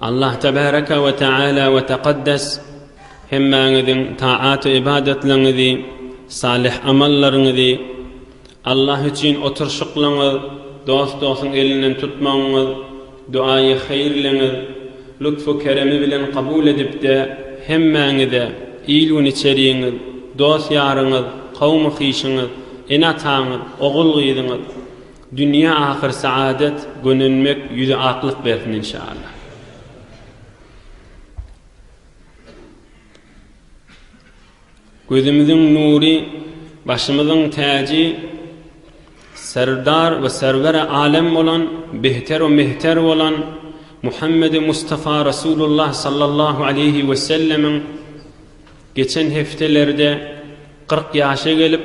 Allah Tebaraka we Teala we Tekaddes hemmäňiziň taat-u ybadatlaryňyzy, salyh amallaryňyzy, Allah üçin oturyşyklaryňyz, dost-dostuň elinden tutmagyňyz, duaýy haýyrlygyňyz lutf-u keremi bilen kabul edip-de, hemmäňize, il-gün içerigiňiz, dost-ýaryňyz, kowmy-hyşyňyz, ene-ataňyz, ogul-gyzyňyz, Dünýä ahyr saadet gönenmek ýüze aklyk bersin inşallah. Gözümiziň nury başymyzyň täji Serdar we serwere alem bolan behter we mehter bolan Muhammedi Mustafa Rasulullah sallallahu aleýhi we sellemiň geçen hepdelerde 40 ýaşa gelip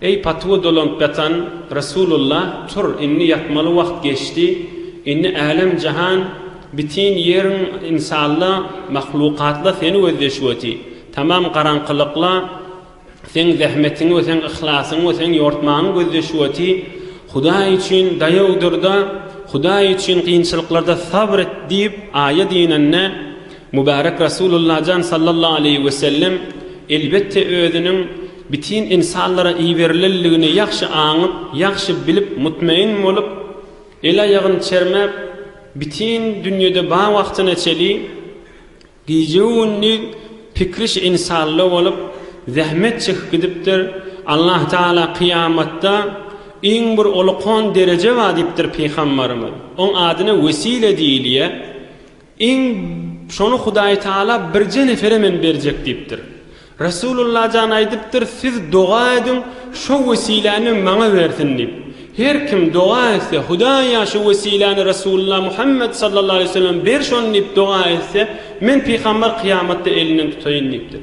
Eý, patuwa dolanyp ýatan Resulullah, tur, indi ýatmaly wagt geçdi, indi älem-jahan, bitin ýeriň insalla, mahlukatla seni gözleşüweti, tamam garaňkylykla seň zähmetiňi we seň yhlasyňy we seň ýortmaňy gözleşüweti, Hudaý üçin daýaw dur-da, Hudaý üçin kynçylyklarda sabr et diýip, aýat inende, Mübärek Resulullah jan sallallahu aleýhi wesellem, elbetde, özüniň, bütin ynsanlara iberilendigini ýagşy aňyp, ýagşy bilip, mutmain bolup, el-aýagyny çermäp, bütin dünýede bar wagtyna çeli gije-gündiz pikriş insanda bolup, zähmet çekip gidipdir, Allahtagala kyýamatda iň bir olukon dereje bar diýipdir pygambarymyz, oň adyna wesile diýilýär. Iň şony Hudaý Taala birje nefere men berjek diýipdir. Resulullah jan aýdypdyr, Siz doga ediň, şo wesiläni maňa bersin diýip. Her kim doga etse, Hudaýa şu wesiläni Resulullah Muhammet sallallahu aleýhi weselem ber şony diýip doga etse, men pygamber kyýamatda elinden tutaýyn diýipdir.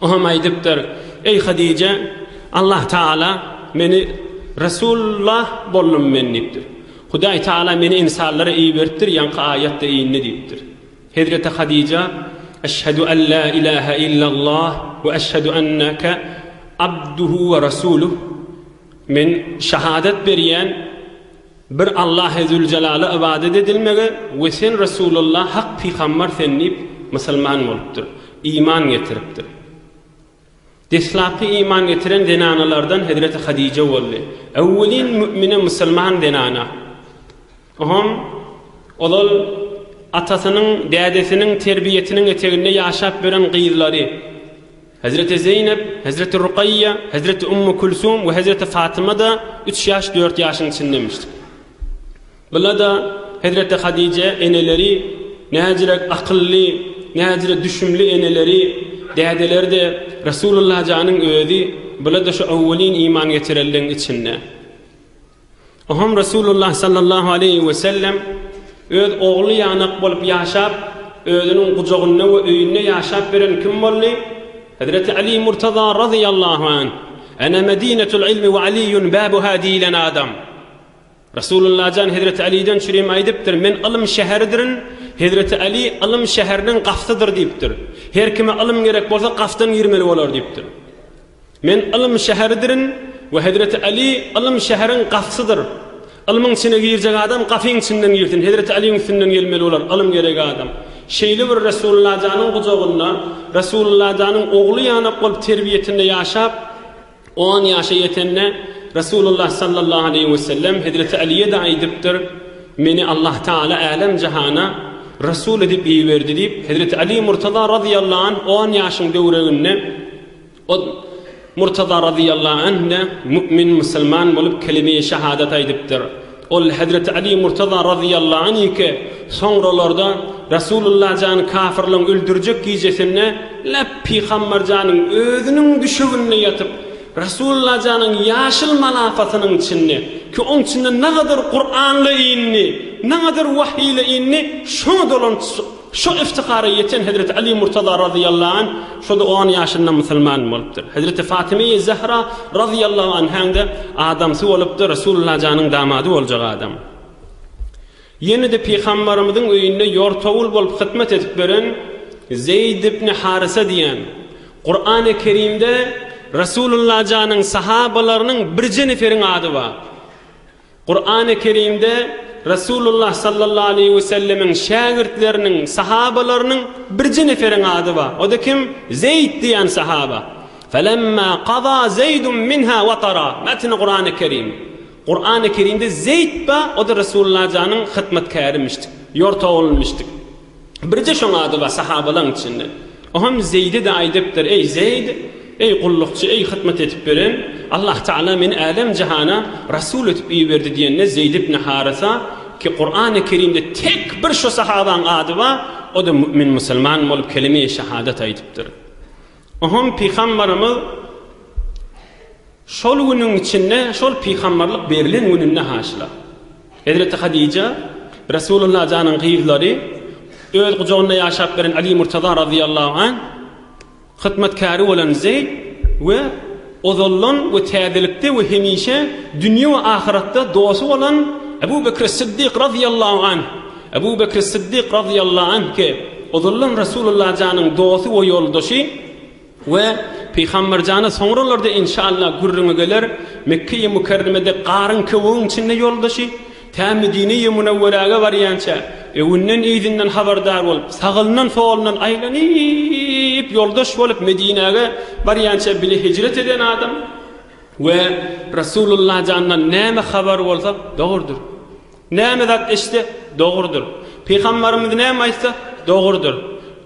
O hem aýdypdyr, Eý, Hadyja, Allah Tagala meni Resulullah boldum men diýipdir. Hudaý Tagala meni ynsanlara iberipdir, ýaňky aýatda indi diýipdir. Hezreti Hadyja, Eşhedü en la ilahe illallah we eşhedü enneke abduhu we rasuluh, Men şahadat berýän, Bir Allahe Züljelala ybadat edilmegi we sen Resulullah hak pygambar sen diýip musulman bolupdyr, iman getiripdir. Deslapky iman getiren zenanalardan Hezreti Hadije boldy. Öwwelin mü'mine musulman zenana. Oham ozal atasynyň, dädesiniň terbiýetiniň eteginde ýaşap ýören gyzlary. Hezreti Zeýnep, hezreti Rukaýýa, hezreti Ummu Külsum we hezreti Fatyma-da üç ýaş, dört ýaşyň içindemişdir. Bula-da hezreti Hadije eneleri näzirek akylly, näzire düşümli eneleri, dädeleri-de Resulullah janyň özi, bula-da şu owwelin iman getirenleň içinde. Oňham Resulullah sallallahu aleýhi we sellem öz ogly ýanak bolup ýaşap, özüniň gujagynda we öýünde ýaşap beren kim boldy? Hezreti Aly Murtaza razyýallahu anh, Ana Medinetul ilmi we Aliyun babuha diýilen adam. Resulullah jan Hezreti Alyden çürim aýdypdyr, Men ylym şäheridirin, Hezreti Aly ylym şäheriniň gafsydyr diýipdir. Her kime ylym gerek bolsa gafdan girmeli bolar diýipdir. Men ylym şäheridirin we Hezreti Aly ylym şäheriň gapysydyr. Ylmyň içine girjek adam gapyň içinden girsin, Hezreti Alyň üstünden gelmeli bolar, ylym gerek adam. Şeýle bir Resulullah janyň gujagynda, Resulullah janyň ogly ýanak bolup terbiýesinde ýaşap, on ýaşa ýetende, Resulullah sallallahu aleýhi we sellem Hezreti Alyýe-de aýdypdyr, Meni Allah Taala älem jahana Resul edip iberdi diýip, Hezreti Aly Murtaza razyýallahu anh on ýaşyň döwreginde, Ol, Murtaza razyýallahu anh-da mu'min, musulman, bolup kelime-i şahadat aýdypdyr. Ol, Hezreti Aly Murtaza razyýallahu anh-yky soňralarda Resulullah jany kafyrlaryň öldürjek gijesinde näp pygambar janyň özüniň düşeginde ýatyp, Resulullah janyň ýaşyl malafasynyň içinde, ki oň içinde nagadar Kur'an-la indi, nagadar wahyy-la indi, şoňa dolanşyp, Şo yftihara ýeten Hezreti Aly Murtaza razyýallahu anh şo-da on ýaşynda musulman bolupdyr. Hezreti Fatymeýi Zähra razyýallahu anhäň-de adamsy bolupdyr, Resulullah janyň damady boljak adam. Ýene-de Pygambarymyzyň öýünde ýortawul bolup hyzmat edip beren Zeýd ibn Harysa diýen, Kurany Kerimde Resulullah janyň sahabalarynyň birje neferiň ady bar. Kurany Kerimde Resulullah sallallahu aleýhi we sellemiň şägirtleriniň, sahabalarynyň birje neferiň ady bar. O-da kim? Zeýd diýen sahaba. Felemma kaza Zeýdun minha watara. Metni Kurany Kerim. Kurany Kerimde Zeýd bar, o-da Resulullah janyň hytmatkärimişdi, ýortagylymyşdy. Birje şoň ady bar sahabalaň içinde. O hem Zeýde de aýdypdyr, Eý, Zeýd, eý, gullukçy, eý, hytmat edip beren, Allah Tagala meni älem-jahana Rasul edip iberdi diýende Zeýd ibn Harysa, ki Kurany Kerimde tek bir şo sahabaň ady bar, o-da mü'min musulman bolup kelime-i şahadat aýdypdyr. O hem Pygambarymyz. Şol günüň içinde, şol pygamberlik berilen gününde haşyla, hezreti Hadija, Resulullah janyň gyzlary, öz gujagynda ýaşap beren Aly Murtaza razyýallahu anh, hytmatkäri bolan Zeýd we ozaldan we täzelikde we hemişe dünýe we ahyratda dosty bolan Ebu Bekri Syddyk razyýallahu anh, Ebu Bekri Syddyk razyýallahu anh ki, ozaldan Resulullah janyň dosty we ýoldaşy, We Pygamberjana soňralarda enşalla gürrüňi geler, Mekkeýi Mükerremede garyň köwügiň içinde ýoldaşy, tä Medineýi Münewwerege barýança, öwünden-yzyndan habardar bolup, sagyndan-solundan aýlanyp ýoldaş bolup Medinäge barýança bile hijret eden adam we Resulullahjandan näme habar bolsa dogrudyr. Näme zat eşitse, dogrudyr. Pygambarymyz näme aýtsa, dogrudyr.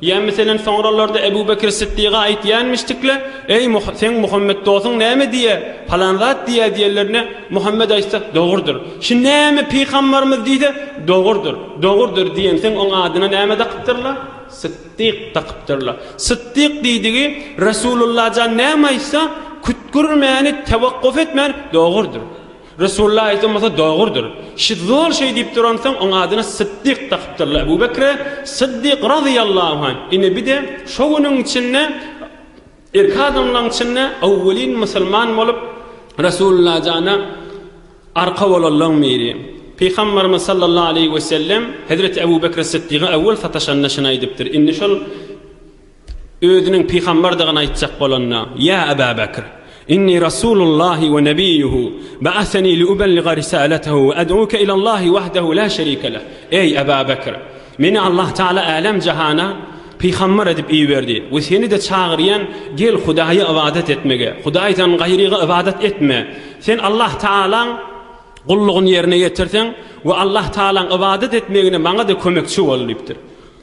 Ýa, meselem, soňralarda Ebu Bekir Sytdyga aýtýanmyşdykle, Eý, seň Muhammet dostuň näme diýýär? Palan zat diýýär diýenlerine, Muhammet aýtsa, dogrudyr. Şu näme pygambarymyz diýse, dogrudyr, dogrudyr diýensoň, oň adyna näme dakypdyrlar? Sytdyk dakypdyrlar. Sytdyk diýdigi, Resululla jan näme aýtsa, kütgürmäni, tewakkuf etmän, dogrudyr. Resulullah aýdan bolsa dogrudyr. Şi zol şeý diýip duransoň, oň adyna Syddyk dakypdyrlar. Ebu Bekre Syddyk razyýallahu anh. Ine bir-de şo günüň içinde ilki adamlaryň içinde owwelin musulman bolup, Resulullah jana arka bolanlaryň biri. Pygambarymyz sallallahu aleýhi wesellem hezreti Ebu Bekre Syddyga owwel sataşanda şuny aýdypdyr. Indi şol. Özüniň pygamberdigini aýtjak bolanda, Ýa Eba Bekr! Inni Rasulullahi we Nebiyuhu, ba'asani li'ubelliga risalatahu we ed'uke ilallahi wahdahu la şerike leh. Eý, Eba Bekr! Meni Allah Taala älem-jahana pygamber edip iberdi we seni-de çagyrýan, gel Hudaýa ybadat etmege, Hudaýdan gaýryga ybadat etme. Sen Allah Taalaň gullugyny ýerine ýetirseň we Allah Taalaň ybadat etmegine maňa-da kömekçi bol diýipdir.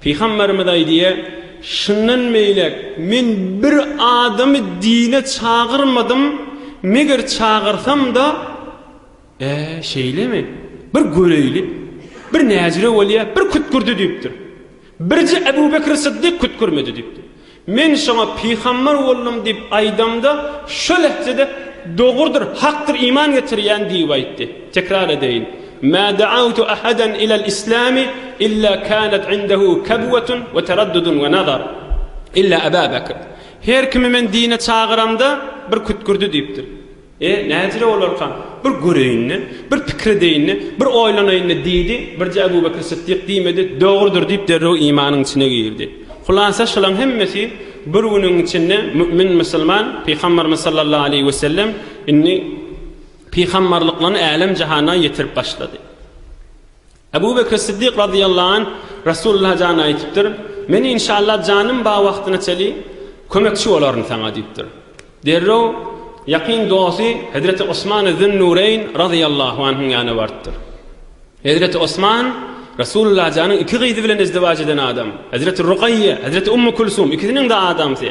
Pygamberimiz aýdýa, Şundan beýläk men bir adamy dine çagyrmadym, meger çagyrsam-da, Ä, şeýlemi? Bir göreýli, bir näjire bolýa, bir kütkürdi diýipdir. Birje Ebu Bekri Syddyk kütkürmedi diýipdir. Men şoňa pygambar boldum diýip aýdamda, şo lehzede, Dogrudyr, hakdyr, iman getirýän diýip aýtdy. Tekrar edeýin, Mä da'awtu ahadan ilal islami illa kanat indahu kabwatun we taraddudun we nazar, illa Aba Bakr. Her kimi men dine çagyramda, bir kütkürdi diýipdir. E, näjire olarka? Bir göreýin-de, bir pikir edeýin-de, bir oýlanaýyn-da diýdi. Birje Ebu Bekr Sytdyk diýmedi, dogrudyr diýip derrew imanyň içine girdi. Hulasa şulaň hemmesi bir günüň içinde mümin musulman Pygamberimiz sallallahu aleýhi we sellem indi pygamberliklerini älem jahana ýetirip başlady. Ebu Bekr Siddik razyýallahu anh Resulullaha jany aýtypdyr, Men inşalla janym ba wagtyna çeli kömekçi bolaryn saňa diýipdir. Derrew ýakyn dosty Hezreti Osmany Zün-Nureýn razyýallahu anhyň ýanyna barypdyr. Hezreti Osman, Resulullaha janyň iki gyzy bilen izdiwaç eden adam. Hezreti Rugaýýe, Hezreti Ummu Külsum ikisiniň-de adamsy.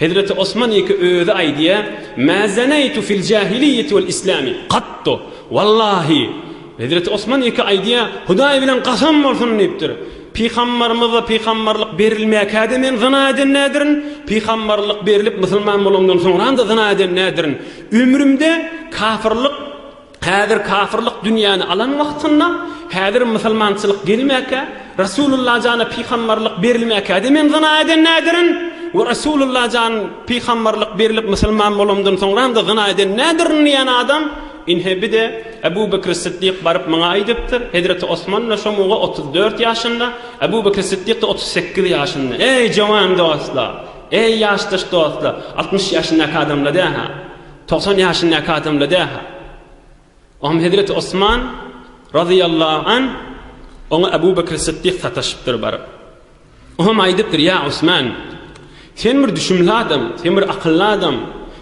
Hezreti Osman ýeke özi aýdýar, Mä zeneýtu fil jahiliýeti wal islami gattu, wallahi, Hezreti Osman ýeke aýdýar, Hudaý bilen gasam bolsun diýipdir, Pygambarymyza pygambarlyk berilmäkä-de men zyna eden näderin, pygambarlyk berilip musulman bolandan soňram-da zyna eden näderin, ömrümde kafyrlyk, Häzir kafyrlyk dünýäni alan wagtynda, häzir musulmançylyk gelmäkä, Resulullah jana pygamberlik berilmäkäde men zyna eden nädirin we Resulullah jan pygamberlik berilip musulman bolamdan soňramda zyna eden nädirin diýen adam inhe bide Ebu Bekr Siddik baryp maňa aýdypdyr, hezreti Osman-da şo muga otuz dört ýaşynda, Ebu Bekr Siddik-de otuz sekiz ýaşynda. Eý jowan dostlar! Eý ýaşdaş dostlar! Altmyş ýaşyndaky adamlar däl-hä! Togsan ýaşyndaky adamla dähä. Oňam hezreti Osman, razyýallahu anh, oňa Abu Bekri Sytdyk sataşypdyr baryp. Oňam aýdypdyr, Ýa Osman, sen bir düşümli adam, sen bir akylly adam,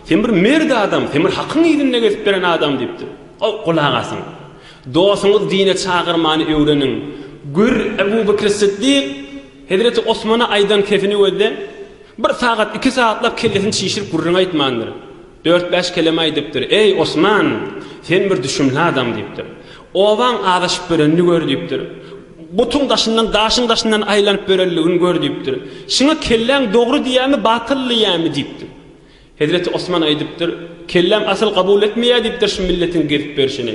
sen bir mert adam, sen bir hakyň yzynda gezip ýören adam diýipdir. Aw, gulak asyň. Dostuňyzy dine çagyrmany öwreniň. Gör, Abu Bekri Sytdyk hezreti Osmana aýdan sesini gözle. Bir sagat, iki sagatlap kellesini çişirip gürrüň aýtmandyr. Dört-bäş keleme aýdypdyr. Eý, Osman, sen bir düşümli adam, diýipdir. Obaň azaşyp börenini gör, diýipdir. Butuň daşyndan, daşyň daşyndan aýlanyp börenligini gör, diýipdir. Şuňa kelläň dogry diýýämi, batyl diýýämi? diýipdir. Hezreti Osman aýdypdyr. Kelläm asyl kabul etmeýär, diýipdir, şu milletiň gezip berşini.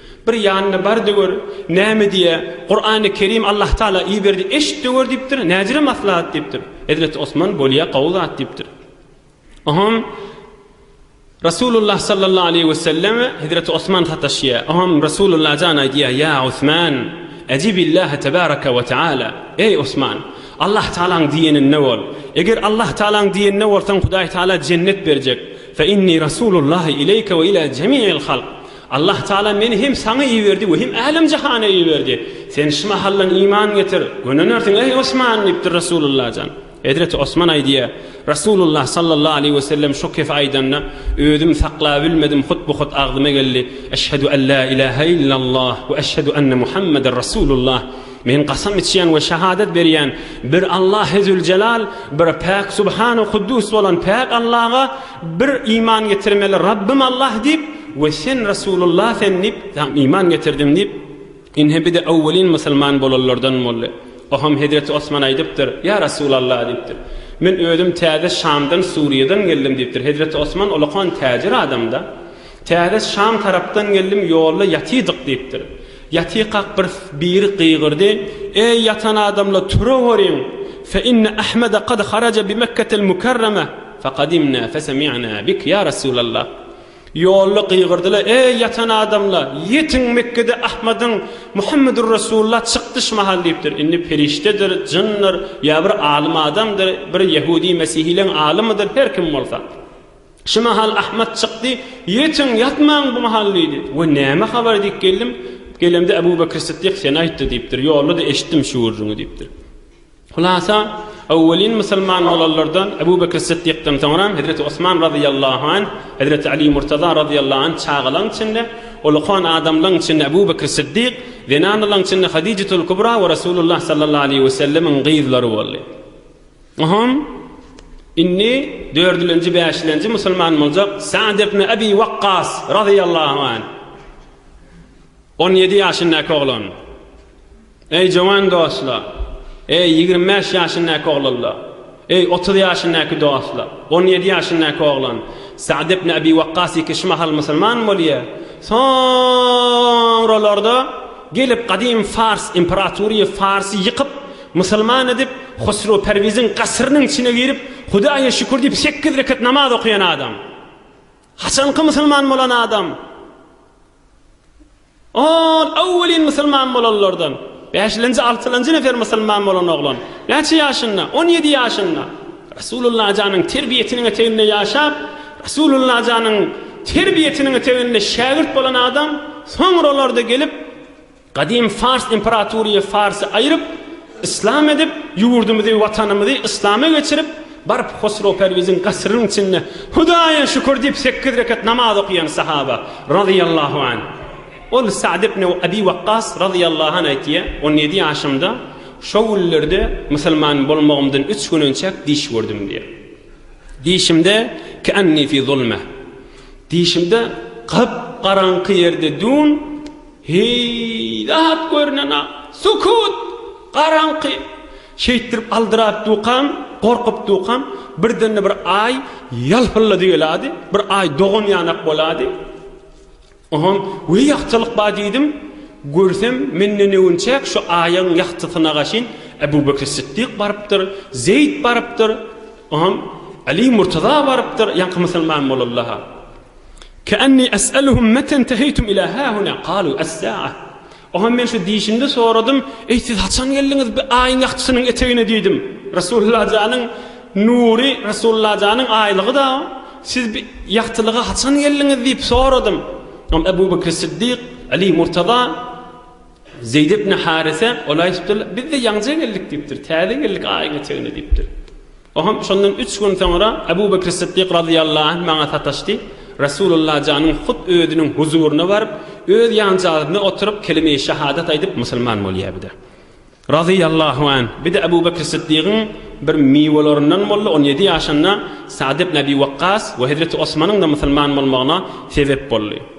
Bir ýanynda bar-da gör, näme diýýä, Kurany Kerim Allahtagala iberdi, eşit-de gör diýipdir, näzire maslahat diýipdir. Hezreti Osman bolýa gowy zat diýipdir. Oňam Rasulullah sallallahu aleýhi we sellem Hezreti Osman sataşýa. Oňam Rasulullah jan aýdýa, Ýa Osman, Ejibillaha tebaraka we taala. Eý Osman, Allahtagalaň diýeninde bol. Eger Allahtagalaň diýeninde bolsaň Hudaýtagala jennet berjek. Fe inni Rasulullah ileýke we ila jemi'il halk. Allah Tagala meni hem saňa iberdi we hem älem-jahana iberdi. Sen şu mahaldan iman getir, gönenärsiň, eý, Osman! diýipdir Resulullah jan. Hezreti Osman aýdýar, Resulullah sallallahu aleýhi wesellem şo kefi aýdanda, özüm saklabilmedim, hut-bu-hut agzyma geldi, Eşhedü en la ilahe illallah we eşhedü enne Muhammeden Resulullah! Men kasam içýän we şahadat berýän bir Allah Hezüljelal, bir Päk Subhanu Kuddus bolan Päk Allaga bir iman getirmeli Rabbym Allah diýip we sen Resulullah sen diýip sen iman getirdim diýip Ine bide owwelin musulman bolanlardan boldy. Oham Hezreti Osman aýdypdyr, ýa Resulallah diýipdir. Men özüm täze Şamdan Suriýadan geldim diýipdir. Hezreti Osman olakan täjir adamda. Täze Şam tarapdan geldim, ýolda ýatydyk, diýipdir. Ýatykak bir biri gygyrdy, Eý, ýatan adamlar, turaweriň! Fe inne Ahmede kad haraja bi Mekketel Mukarreme fe kadimna fe semi'na bik, ýa Resulallah! Ýolda gygyrdylar, Eý, ýatan adamlar, ýetiň, Mekkede Ahmediň, Muhammedur Resulullah, çykdy şu mahal, diýipdir. Indi perişdedir, jyndyr, ýa bir alym adamdyr, bir ýehudi-mesihileň alymydyr, her kim bolsa. Şu mahal Ahmet çykdy. Ýetiň, ýatmaň bu mahal diýdi. We näme habar diýip geldim. Gelemde Ebu Bekr Sytdyk seni aýtdy diýipdir. Ýolda-da eşitdim şu gürrüňi diýipdir. Hulasa, öwwelin musulman bolanlardan Ebu Bekr Sytdykdan soňram Hezreti Osman razyýallahu anh, Hezreti Aly Murtaza razyýallahu anh çagalaň içinde, ulkan adamlaň içinde Ebu Bekr Sytdyk, zenanalaň içinde Hadijetul Kubra we Resulullah sallallahu aleýhi we sellemiň gyzlary boldy. Hum, indi dördülenji, bäşilenji musulman boljak Sa'd ibn Abi Waqqas razyýallahu anh. On ýedi ýaşyndaky oglan. Eý, jowan dostlar! Eý, ýigrimi bäş ýaşyndaky oglanlar! Eý, otuz ýaşyndaky dostlar! On ýedi ýaşyndaky oglan Sa'd ibn Abi Waqqas iki üç mahal musulman bolýar. Soňralarda gelip gadym Fars imperatory Farsy ýykyp, Musulman edip, Husrew Perwiziň gasyrynyň içine girip, Hudaýa şükür diýip sekiz rekat namaz okaýan adam. Haçanky musulman bolan adam? Ol awwelin musulman bolanlardan. Bäşilenji, altylenji nefer musulman bolan oglan. Näçe ýaşynda? On ýedi ýaşynda. Resulullah janyň terbiýesiniň eteginde ýaşap, Resulullah janyň terbiýesiniň eteginde şägirt bolan adam, soňralarda gelip, Gadym Fars imperatoryýe Farsy aýryp, yslam edip, ýurdumyzy, watanymyzy yslama geçirip, baryp Hosrow Perwiziň gasyrynyň içinde Hudaýa şükür diýip sekiz rekat namaz okaýan sahaba, razyýallahu anh. Ol Sa'd ibn Abi Wakkas, razyýallahu anh, aýtýar, On ýedi ýaşymda, şo günlerde musulman bolmagymdan üç gün önçäk diş gördüm diýýär. Dişimde Ke'anni fi zulmeh. Dişimde gyp-garaňky ýerde dün Heý, zat görünen-a! Sukut! Garaňky! Şeýtdirip aldyrap dukam, gorkup dukam, birden-de bir Aý ýalpyllady geladi, bir Aý dogan ýanak bolady. Onsoň, Weý, ýagtylyk bar diýdim. Görsem, menden öwünçäk şu Aýyň ýagtysyna gaşyn Ebu Bekri Sytdyk barypdyr, Zeýd barypdyr, onsoň, Aly Murtaza barypdyr, ýaňky musulman bolanlar-ha. Kä'nni es'eluhum meten teheýtum ilâ hâhunâ, qalû es-sâ'a. Oňam men şu diýşimde soradym, Eý, siz haçan geldiňiz bi Aýyň ýagtysynyň etegine diýdim. Resulullah janyň nury, Resulullah janyň aýlygy-da o. Siz bi ýagtylyga haçan geldiňiz diýip soradym. Oňam Ebu Bekri Siddik, Aly Murtaza, Zeýd ibn Harise, ol aýdypdyrlar, Biz-de ýaňja geldik diýipdir, täze geldik Aýyň etegine diýipdir. Oňa şondan üç gün soňra Abu Bekr Siddik razyýallahu anh maňa sataşdy. Resulullah janyň hut özüniň huzuryna baryp, öz ýanjagynda oturyp kelime-i şahadat aýdyp musulman bolýa bide. Razyýallahu anh bide Abu Bekr Siddigiň bir miwelaryndan boldy, on ýedi ýaşynda Sa'd ibn Abi Wakkas we hezreti Osmanyň-da musulman bolmagyna sebep boldy.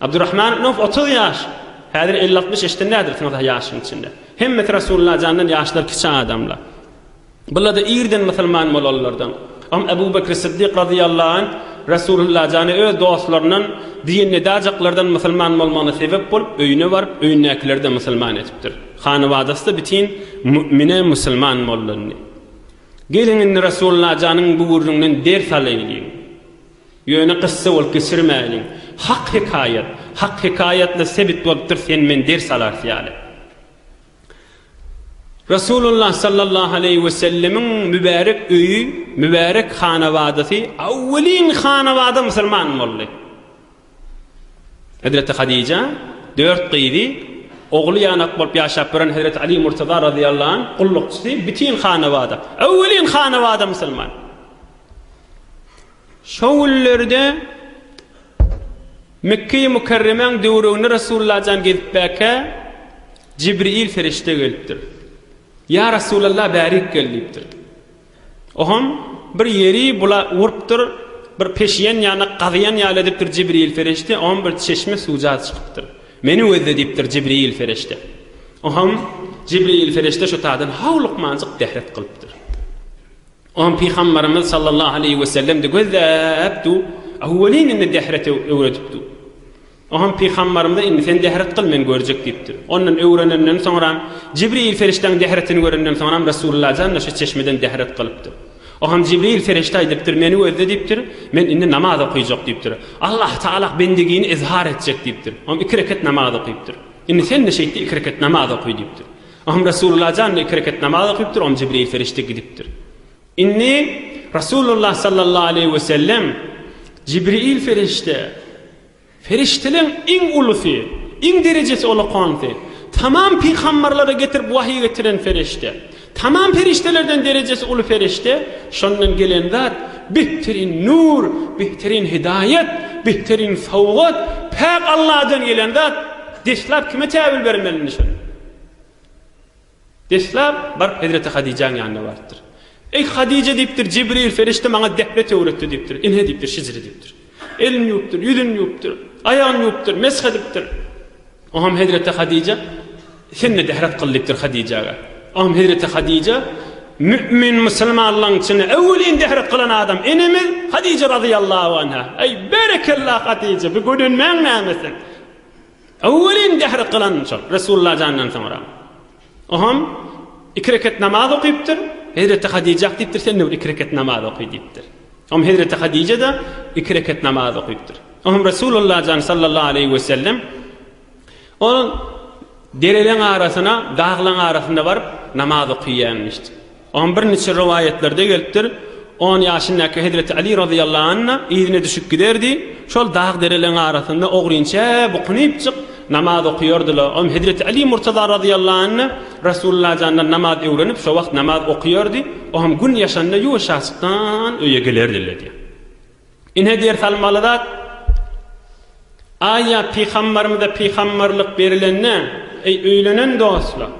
Abdurrahman ibn Awf otuz ýaş, häzir elli-altmyş ýaşdan nädersiňiz-hä ýaşyň içinde. Hemmesi Resulullah jandan ýaşlar kiçi adamlar. Bular-da irden musulman bolanlardan. Oňa Abu Bekr Siddik razyýallahu anh Resulullah jana öz dostlaryndan diýen nedajaklardan musulman bolmagyna sebep bolup, öýüne baryp, öýündäkileri-de musulman edipdir. Hanabadasy-da bitin mu'mine musulman bolundy. Geliň indi Resulullah janyň bu gürrüňden ders alaýlyň. Ýöne kyssa bolup geçirmäliň. Hak hekaýat. Hak hekaýatly sebit bolupdyr sen men ders alarys ýaly. Resulullah sallallahu aleýhi we sellemiň mübärek öýi, mübärek hanabadasy awwelin hanabada musulman boldy. Hezreti Hadija dört gyzy, ogly ýanak bolup ýaşap ýören Hezreti Ali Murtaza razyýallahu anh gullukçysy bütin hanabada, awwelin hanabada musulman. Şo günlerde Mekge-i Mükerremäň döwregine Resulullajan gezipbäkä, Jibril perişde gelipdir. Ýa Resulalla bärik gel diýipdir. Oham bir ýeri bula urupdyr, bir peşiýen ýanak gazyýan ýaly edipdir Jibril perişde, oham bir çeşme suwja çykypdyr. Meni gözle diýipdir Jibril perişde. Oham Jibril perişde şo taýdan haw lukmanjyk dehret kylypdyr. Ony Pygambarymyz sallallahu aleýhi wesellem-de gözläpdi, Awwelin indi dehret öwredipdi. O hem Pygambarymyza indi sen dehret kyl men görjek diýipdir. Ondan öwrenenden soňram Jibril perişdäň dehretini görenden soňram Resulullah jan-da şu çeşmeden dehret kylypdyr. O hem Jibril perişde aýdypdyr, meni gözle diýipdir, men indi namaz okaýjak diýipdir. Allah Taala bendigini izhar etjek diýipdir. Hem iki reket namaz okypdyr. Indi sen-de şeýtde iki reket namaz okaý diýipdir. Oňa Resulullah jan iki rekat namaz okypdyr, oňa Jibril perişde gidipdir. Indi Resulullah sallallahu aleýhi we sellem Jibril perişde Perişdeleň iň ulusy, iň derejesi ulakanysy, tamam pygamberlere getirip wahyy getiren perişde, tamam perişdelerden derejesi uly perişde, şondan gelen zat behterin nur, behterin hidaýat, behterin sowgat, päk Allahdan gelen zat, deslap kime täwil bermeli indi şony? Deslap, baryp hezreti Hadijäň ýanyna barypdyr. Eý, Hadije diýipdir, Jibril perişde maňa dehnet öwretdi diýipdir. Ine diýipdir, şijri diýipdir. Elini ýuwupdyr, ýüzüni ýuwupdyr, aýagyny ýuwupdyr, mesh edipdir. Oňam hezreti Hadije, Sen-de dehnet kyl diýipdir Hadijäge. Oňam hezreti Hadije, Mü'min musulmanlaryň içinde öweliň dehnet kylan adam enemiz Hadije razyýallahu anha. Eý, berekella Hadije, bu gönenmäň näme sen? Öwwelin gahry kylan şol Resulullah jandan soňra. Oham iki rekat namaz okypdyr. Hezreti Hadijah diýipdir, sen de bir iki rekat namaz oky diýipdir. Oham Hezreti Hadijada iki rekat namaz okypdyr. Oham Resulullah jan sallallahu aleýhi we sellem ol dereleň arasyna, daglaň arasynda baryp namaz okyýan diýipdir. Oňa birniçe rowaýatlarda gelipdir, On ýaşyndaky hezreti Aly razyýallahu anha yzyna düşüp giderdi, şol dag-dereleriň arasynda ogrynça bukunypjyk namaz okaýardylar. Oňa hezreti Aly murtaza razyýallahu anha Resulullah jandan namaz öwrenip, şo wagt namaz okaýardy, oňam gün ýaşanda ýuwaşjaçykdan öýe gelerdiler diýýär. Ine ders almaly zat, Aýa pygambarymyza pygambarlyk berilende, eý öýlenen dostlar!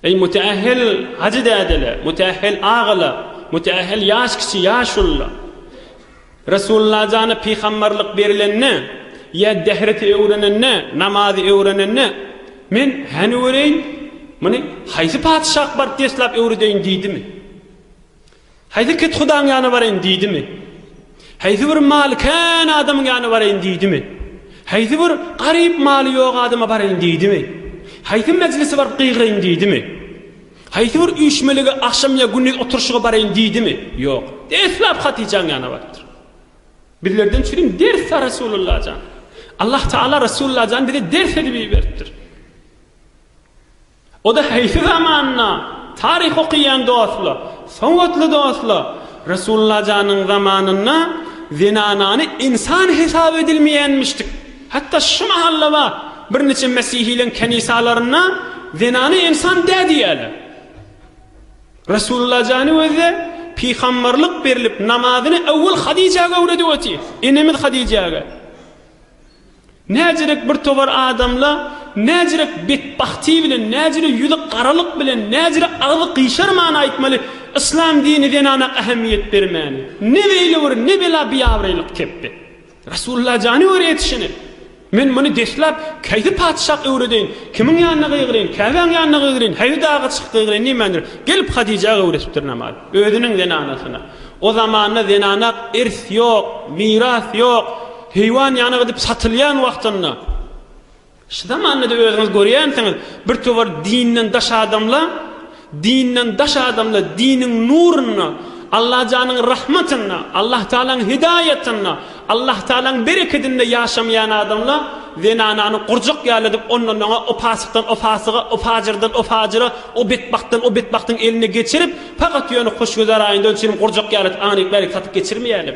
Eý müteähhil hajy dädeler, müteähhil agalar, müteähhil ýaş kiçi ýaşulular! Resulullajana pygamberlik berilende ýa dehret öwrenende, namazy öwrenende, Men häni göreýin, muny haýsy patyşa akbar deslap öwredeýin diýdimi? Haýsy kethudaň ýana baraýyn diýdimi? Haýsy bir maly-kän adamyň ýana baraýyn diýdimi? Haýsy bir garyp maly ýok adama baraýyn diýdimi? Haýsy mejlise baryp gygyraýyn diýdimi? Haýsy bir üýşmelige, agşam ýa gündiz oturyşyga baraýyn diýdimi? Ýok. Deslap Hatyjaň ýana barypdyr. Bizlerden çürim ders-a Resulullah jan. Allah Taala Resulullah jany bize ders edip iberipdir. O-da haýsy zamanda? Taryh okaýan dostlar, sowatly dostlar, Resulalla janyň zamanynda zenanany ynsan hesap edilmeýänmişdik. Hatda şu mahal-da bar, birniçe mesihileriň kenisalarynda zenana ynsan dä diýýärler. Resulalla jany özi pygamberlik berlip, namazyny öwwel Hadijäge öwredip otyr. Enemiz Hadijäge. Näzirek bir togar adamla, näzirek betbahti bilen, näzire ýüzi garalyk bilen, näzire agzy gyşarman aýtmaly, Yslam dini zenana ähemmiýet bermäni. Ne beýle bir, ne bela biabraýlyk kepbe. Resulullah jany göre ýetişene. Men muny deslap, Kaýsy patyşak öwredeýin, kimiň ýanyna gygyryň, Käbäň ýanyna gygyryň, haýsy daga çykyp gygyryň diýmändir, gelip Hadijä öwresipdir namazy. Özüniň zenanasyna. O zamanda zenana irs ýok, miras ýok. Heýwan ýanyk edip satylýan wagtynda şu zamanda-da özüňiz görýänsiňiz, bir towar dinden daş adamla, dinden daş adamla diniň nurunda, Allajanyň rahmatynda, Allahtagalaň hidaýatynda, Allahtagalaň berekedinde ýaşamaýan adamla zenanany gurjak ýaly edip ondan-oňa, o pasykdan o pasyga, o pajyrdan o pajyra, o betbagtdan o betbagtyň eline geçirip, pakat ýöne hoşgüzar aýyndan çilim gurjak ýaly edip aňryk-bärik satyp geçirmeýälim.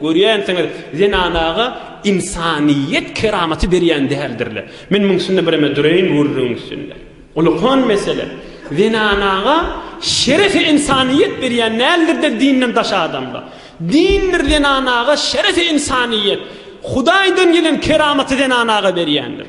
Görýänsiňiz, zenanaga ynsanyýet keramaty berýän däldirler. Men muň üstünde bireme dureýin gürrüň üstünde. Ulukan mesele. Zenanaga şerefi ynsanyýet berýän däldirler dinden daş adamlar. Dindir zenanaga şerefi ynsanyýet. Hudaýdan gelen keramaty zenanaga berýändir.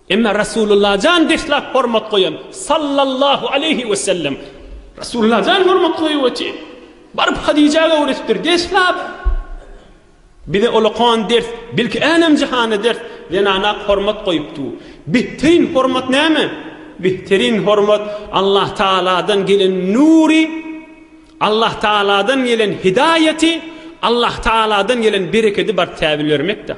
Emma Rasulullah jan deslap hormat goýan sallallahu aleýhi wesellem Rasulullah jan hormat goýup otyr. Baryp Hadijä öwretipdir deslap. Bize olakan ders, belki älem jahana ders zenana hormat goýupdyr. Behterin hormat näme? Behterin hormat Allah Tagaladan gelen nury, Allah Tagaladan gelen hidaýaty, Allah Tagaladan gelen berekedi baryp täbil bermekdir.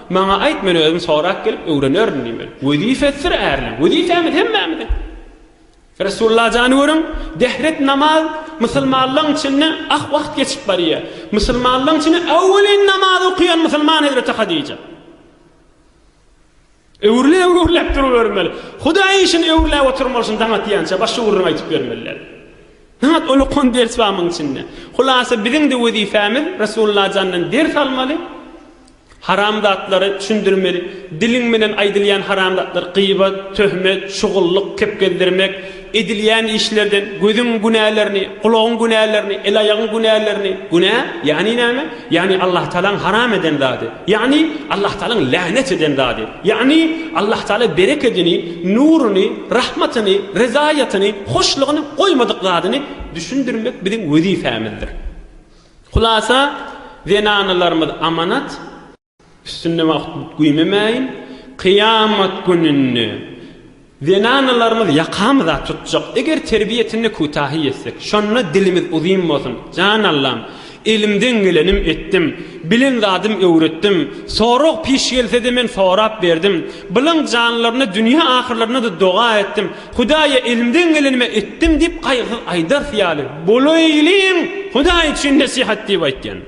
Maňa aýt, men özüm sorap gelip öwrenerin diýmeli. Wezipesidir ärleň. Wezipämiz hemmämiziň. Resulla jany görüň, dehret namaz musulmanlaň içinde ak wagt geçip barýa. Musulmanlaň içinde äwelin namaz okaýan musulman hezreti Hadija. Öwrülip öwrülip durubermeli. Hudaý işini öwrüläp oturmaly şun daň atýança baş ugruny aýdyp bermeliler. Nat ol okan ders bar muň içinde. Hulasa biziň-de wezipämiz Resulla jandan ders almaly. Haramzatlary düşündirmeli. Diliň bilen aýdylýan haramzatlar gybat, töhmet, şugullyk, kepgezdirmek, edilýän işlerden gözüň günälerini, gulagyň günälerini, el-aýagyň günälerini, günä, ýagny näme? Ýagny Allahutagalaň haram eden zady, ýagny Allahutagalaň länet eden zady, ýagny Allahutagala berekedini, nuruny, rahmatyny, ryzaýatyny, hoşlugyny goýmadyk zadyny düşündirmek biziň wezipemizdir. Hulasa, zenanalarymyz amanat, üstünde wagt güýmemäýin, kyýamat gününde zenanalarymyz ýakamyza tutjak, eger terbiýesinde kütahy ýetsek. Şonda dilimiz uzyn bolsun, Jan Allam, elimden gelenim etdim, bilen zadym öwretdim, sorag-piş gelse-de men sorap berdim, bilen janlaryna dünýe-ahyrlaryna-da doga etdim, Hudaýa elimden gelenimi etdim diýip gaýgysyz aýdarys ýaly, Bolaýlyň Hudaý üçin nesihat diýip aýtýan.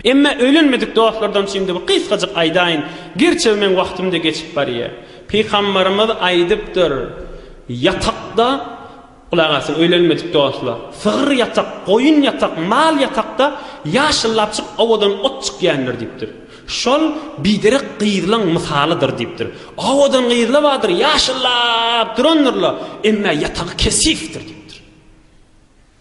Emma öýlenmedik dostlardan üçin-de bir gysgajyk aýdaýyn, gerçi meň wagtym-da geçip barýar. Pygambarymyz aýdypdyr, Ýatakda, gulak asyň öýlenmedik dostlar, sygyr ýatak, goýun ýatak, mal ýatakda ýaşyllapjyk owadan ot çykýandyr diýipdir. Şol biderek gyzlaň mysalydyr diýipdir. Owadan gyzla bardyr, ýaşyllap durandyr-la, emmä ýatagy kesifdir diýipdir.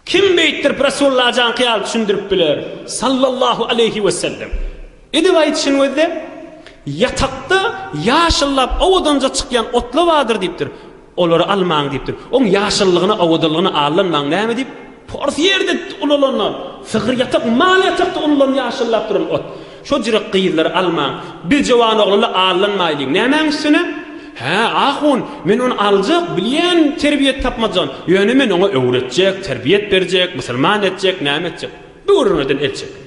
Kim beýtdirip Resulallajaňky ýaly düşündirip biler, sallallahu aleýhi wesellem? Edip aýdyşyn gözle, ýatakda ýaşyllap owadanja çykýan otla bardyr diýipdir. Olary almaň diýipdir. Oň ýaşyllygyna, owadanlygyna allanmaň. Näme diýip? Pors ýerde ulalanlar, sygyr ýatak, mal ýatakda ulalan ýaşyllap duran ot. Şo jürek gyzlary almaň. Biz jowan oglanlar allanmaýlyň. Nämäň üstüne? Hä, ahun, men ony aljak, bilýän, terbiýe tapmajagyn. Ýöne men oňa öwretjek, terbiýet berjek, musulman etjek, näme etjek. Böwrüňizden el çekiň.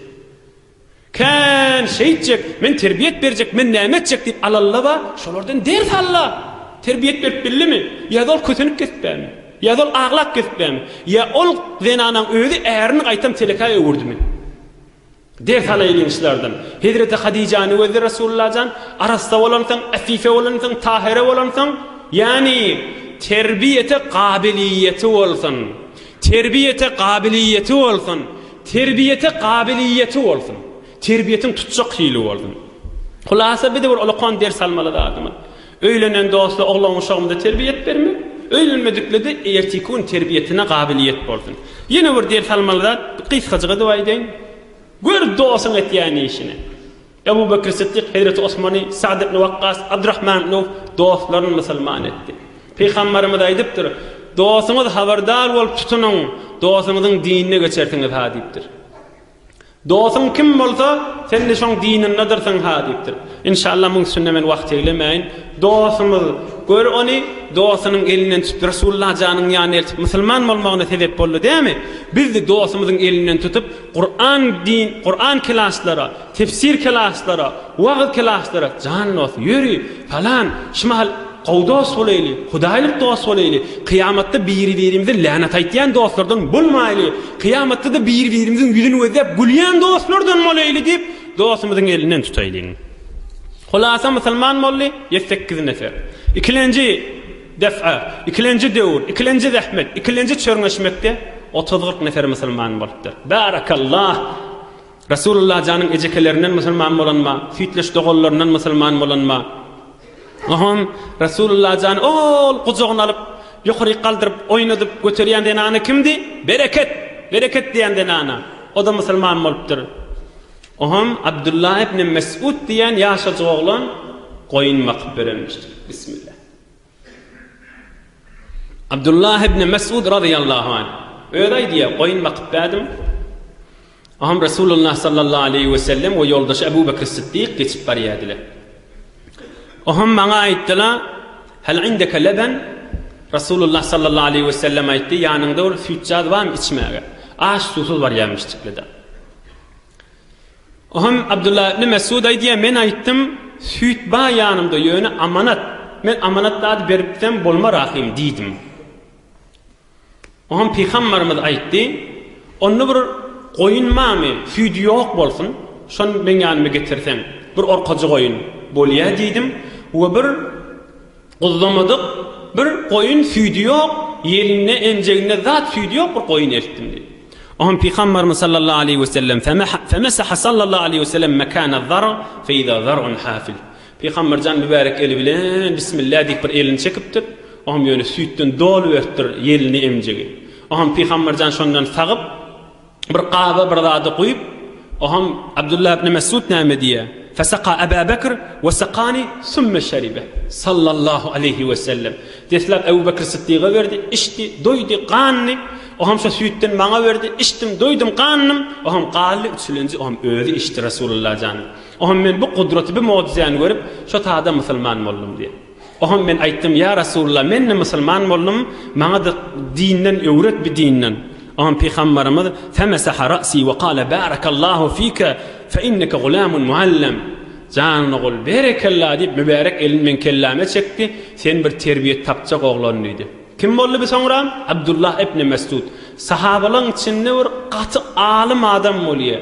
Kän şeýtjek, men terbiýet berjek, men näme etjek diýip alallaba, şolardan ders al-la! Terbiýet berip bildimi? Ýa-da ol kösenip gezip bämi? Ýa-da ol aglap gezip bämi? Ýa ol zenanaň özi äriniň gaýtam telekäe öwürdimi? Ders alaýlyň şulardan. Hezreti Hadijäni gözle Resulullah jan, arassa bolansoň, äfife bolansoň, tahyra bolansoň, ýagny terbiýete gabiliýeti bolsun. Terbiýete gabiliýeti bolsun. Terbiýete gabiliýeti bolsun. Terbiýetiň tutjak hili bolsun. Hulasa bize bir ulakan ders almaly zadymyz. Öýlenen dostla oglan-uşagymyza terbiýet bermek, öýlenmediklede ertiki gün terbiýetine gabiliýet bolsun. Ýene bir ders almaly zat, gysgajyk edip aýdaýyn. Gör dosyň etýän işini. Ebu Bekr Siddik Hezreti Osmany, Sa'd ibn Wakkas, Abdurrahman ibn Awf dostlaryn musulman etdi. Pygambarymyz aýdypdyr, Dosuňyz habardar bolup tutunyň, dosuňyzyň dinine geçersiňiz-ha diýipdir. Dosuň kim bolsa, sen-de şoň dinindedyrsyň-ha diýipdir. Inşallah muň üstünde men wagt eglemäýin. Dosumyz, gör ony dosunyň elinden tutup Resulullah janyň ýanyna eltip musulman bolmagyna sebep boldy dämi? Biz-de dosumyzyň elinden tutup Kur'an din, Kur'an kilaslara, Tefsir klaslara, wagyz klaslara jan dos, ýöri, falan, şu mahal gowy dos bolaýly, hudaýlyk dos bolaýly, kyýamatda biri-birimize länet aýtýan dostlardan bolmaýly, kyýamatda-da biri-birimiziň ýüzüni gözläp gülýän dostlardan bolaýly diýip, dostumyzyň elinden tutaýlyň. Hulasa musulman boldy, ýe sekiz nefer. Ikilenji depä, ikilenji döwür, ikilenji zähmet, ikilenji çörňeşmekde otuz-kyrk nefer musulman bolupdyr. Barakallah! Rasulullah janyň ejekelerinden musulman bolanma, süýtleş doganlaryndan musulman bolanma. Ohomm, Rasulullah jany ol gujagyna alyp, ýokaryk galdyryp, oýnadyp, göterýän zenana kimdi? Bereket! Bereket diýen zenana. O-da musulman bolupdyr. Ohomm, Abdullah ibn Mes'ud diýen ýaşajyk oglan goýun bakyp örenmişdir. Bismillah. Abdullah ibn Mes'ud razyýallahu anh özi aýdýar, goýun bakyp bärdim. Aham Resulullah sallallahu aleýhi we sellem we ýoldaşy Abu Bakr Siddik geçip barýardylar. Aham maňa aýtdylar, Hal indeke leben? Resulullah sallallahu aleýhi we sellem aýtdy, Ýanyňda bir süýtjaz barmy içmäge? Aç suwsuz barýarmyş çyklada. Aham Abdullah ibn Mesud aýdýar, men aýtdym, Süýt bar ýanymda, ýöne amanat. Men amanat zady berip gitsem bolmar ahym diýdim. Oňam pygambarymyz aýtdy, Onda bir goýun barmy, süýdi ýok bolsun, şony meň ýanyma getirseň, bir orkajy goýun bolýa diýdim we bir guzlamadyk bir goýun süýdi ýok, ýelinde, emjeginde zat süýdi ýok bir goýun eltdim diýdi. Oňam pygambarymyz sallallahu aleýhi wesellem, Femesaha sallallahu aleýhi wesellem mekana zar' fe iza zar'un hafil. Pygamberjan mübärek eli bilen Bismillah diýip bir elini çekipdir. O hem ýöne süýtden doly beripdir ýelini emjegi. O hem Pygamberjan şondan sagyp, bir gaba bir zady guýup, o hem Abdullah ibn Mesud näme diýýär? Fesaka Aba Bekr we sakani summa şeribe. Sallallahu aleýhi we sellem. Deslap Ebu Bekr Siddiga berdi, içdi, doýdy, gandy. O hem şo süýtden maňa berdi, içdim, doýdum, gandym. O hem galdy, üçülenji o hem özi içdi Rasulullah jan. Oňam men bu gudraty, bu möjüzäni görüp, şo tada musulman boldum diýen. Oňam men aýtdym, Ýa Rasulullah, men-de musulman boldum, maňa-da dinden öwret, bi dinden. Oňam Pygambarymyz, Femesaha rasy we kale, Barakallahu fika, fe inneke gulamun muallam. Janyny gol, Berekella diýip, mübärek elini meň kelläme çekdi, Sen bir terbiýe tapjak oglan diýdi. Kim boldy bi soňra? Abdullah ibn Mesud. Sahabalaryň içinde bir gaty alym adam bolýar.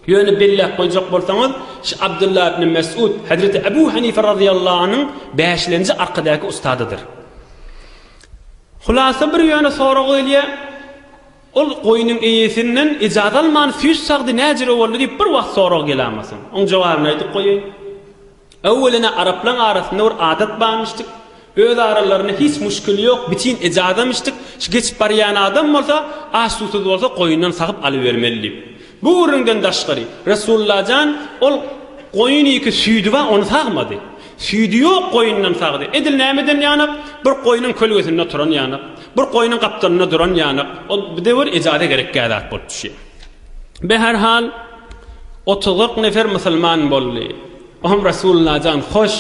Ýöne belläp goýjak bolsaňyz, şu Abdylla ibn Mes'ud Hezreti Ebu Hanife razyýallahu anyň bäşlenji arkadäki ustadydyr. Hulasa bir ýöne sorag gelýär, Ol goýnuň eýesinden ijazat alman süýt sagdy näjire boldy diýip bir wagt sorag gelämasyn. Oň jogabyny aýdyp goýaýyn. Öwwelene araplaň arasynda bir adat barmyşdyk, öz aralarynda hiç muşkili ýok, biçin ejadamyşdyk, şu geçip barýan adam bolsa, aç-susuz bolsa goýundan sagyp alybermeli diýip. Bu gürrüňden daşgary, Resullajan ol goýunyky süýdi bar, ony sagmady. Süýdi ýok goýundan sagdy. Edil nämeden ýanak? Bir goýnuň kölgesinde oturan ýanak, bir goýnuň gapdalynda duran ýanak, ol bidewr ejada gerekgä zat bolup düşýär. Be her hal otuz-kyrk nefer musulman boldy. Oňam Resulullah jan hoş,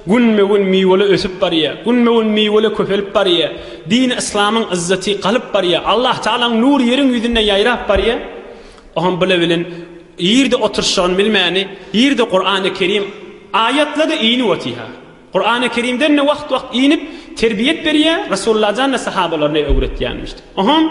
günbe gün miwele ösüp barýa, günbe gün miwele köpelip barýa, dini yslamyň yzzaty galyp barýa, Allah Tagalaň nury ýeriň ýüzünde ýaýrap barýa. Oňam bile bilen ýerde oturyşyny bilmäni, ýerde Kurany Kerim aýatlady inip otyha. Kurany Kerimden ne wagt wagt inip terbiýet berýa, Resulullah jan ne sahabalaryny öwretýänmişdi. Oňam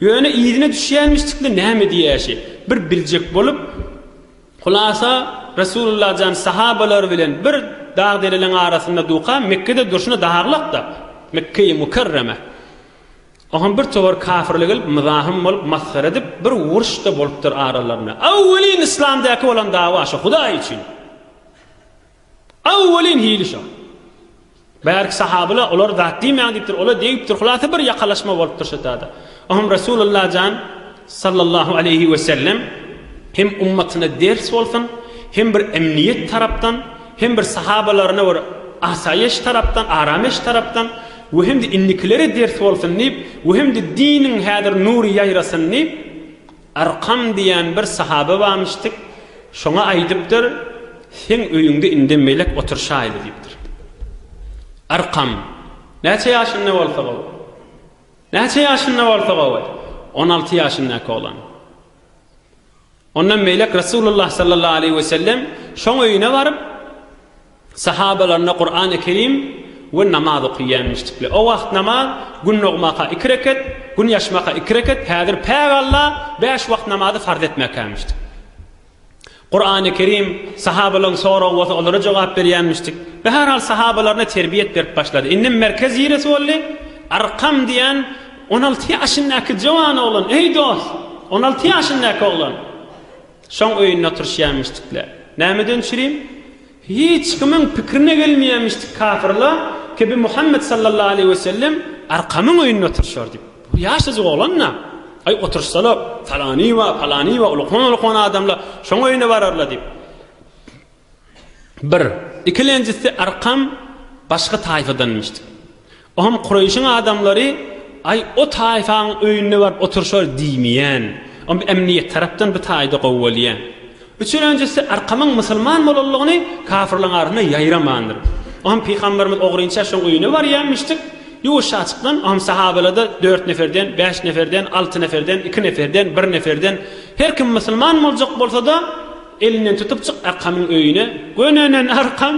Ýöne yzyna düşýänmişdikmi näme diýäýşi, bir biljek bolup, hulasa, Resulullah jan sahabalary bilen bir dag-dereleň arasynda duka, Mekgede durşuna daglak-da, Mekge-i Mukerreme. Oňam bir towar kafirler gelip, myzahym bolup, masgara edip, bir uruş-da bolupdyr aralarynda. Awwelin yslamdaky bolan dawa şu, Hudaý üçin! Aw welin hili şo. Bärki sahabyla olar zat diýmäň diýipdir, ola degipdir. Hulasa bir ýakalaşma bolupdyr şo tada. Oňam Resulullah jan sallallahu aleýhi we sellem hem ummatyna ders bolsun, hem bir emniýet tarapdan, hem bir sahabalaryna bir asaýyş tarapdan, aramyş tarapdan we hem-de indikilere ders bolsun diýip, we hem-de diniň häzir nury ýaýrasyn diýip, Arkam diýen bir sahabe barmyşdyk, şoňa aýdypdyr, Seň öýüňde indem melek oturşaýly diýipdir. Arkam, Näçe ýaşynda bolsa gowy? Näçe ýaşynda bolsa gowy? On alty ýaşyndaky oglan. Onda melek Resulullah sallallahu aleýhi wesellem şoň öýüne baryp, Sahabalaryna Kurany Kerim we namaz okyýanmyşdikle. O wagt namaz, Gün dogmaka iki reket, Gün ýaşmaka iki reket, häzir Päk Alla bäş wagt namazy farz etmekämyşdik. Kurany Kerim, sahabalaryň soragy bolsa olara jogap berýänmişdik. Bihärhal sahabalaryna terbiýet berip başlady. Indem merkez ýeresi boldy. Arkam diýen on alty ýaşyndaky jowan oglan, eý dost, on alty ýaşyndaky oglan. Şoň öýünde oturyşýamişdikle. Nämeden çürim? Hiç kimiň pikirine gelmeýämişdik kafirla Kibi Muhammet sallallahu aleýhi we sellem Arkamyň öýünde oturyşar diýip. Bu ýaşajyk oglan-da. Aý, oturyşsalar, falany-wa, palany-wa ulkan-ulkan adamlar şoň öýüne bararlar diýip. Bir. Ikilenjisi Arkam başga taýfadanmyşdyk. O hem Kureýşiň adamlary Aý o taýfaň öýünde baryp oturşar diýmeýän. O hem emniýet tarapdan bir taýda gowy bolýar. Üçülenjisi Arkamyň musulman bolanlygyny kafyrlaryň arasynda ýaýramandyr. O hem Pygamberimiz ogrynça şoň öýüne barýanmyşdyk. Ýuwaşjaçykdan o hem sahabalarda dört neferden, bäş neferden, alty neferden, iki neferden, bir neferden her kim musulman boljak bolsada, Elinden tutup çyk Arkamyň öýüne. Gönenen Arkam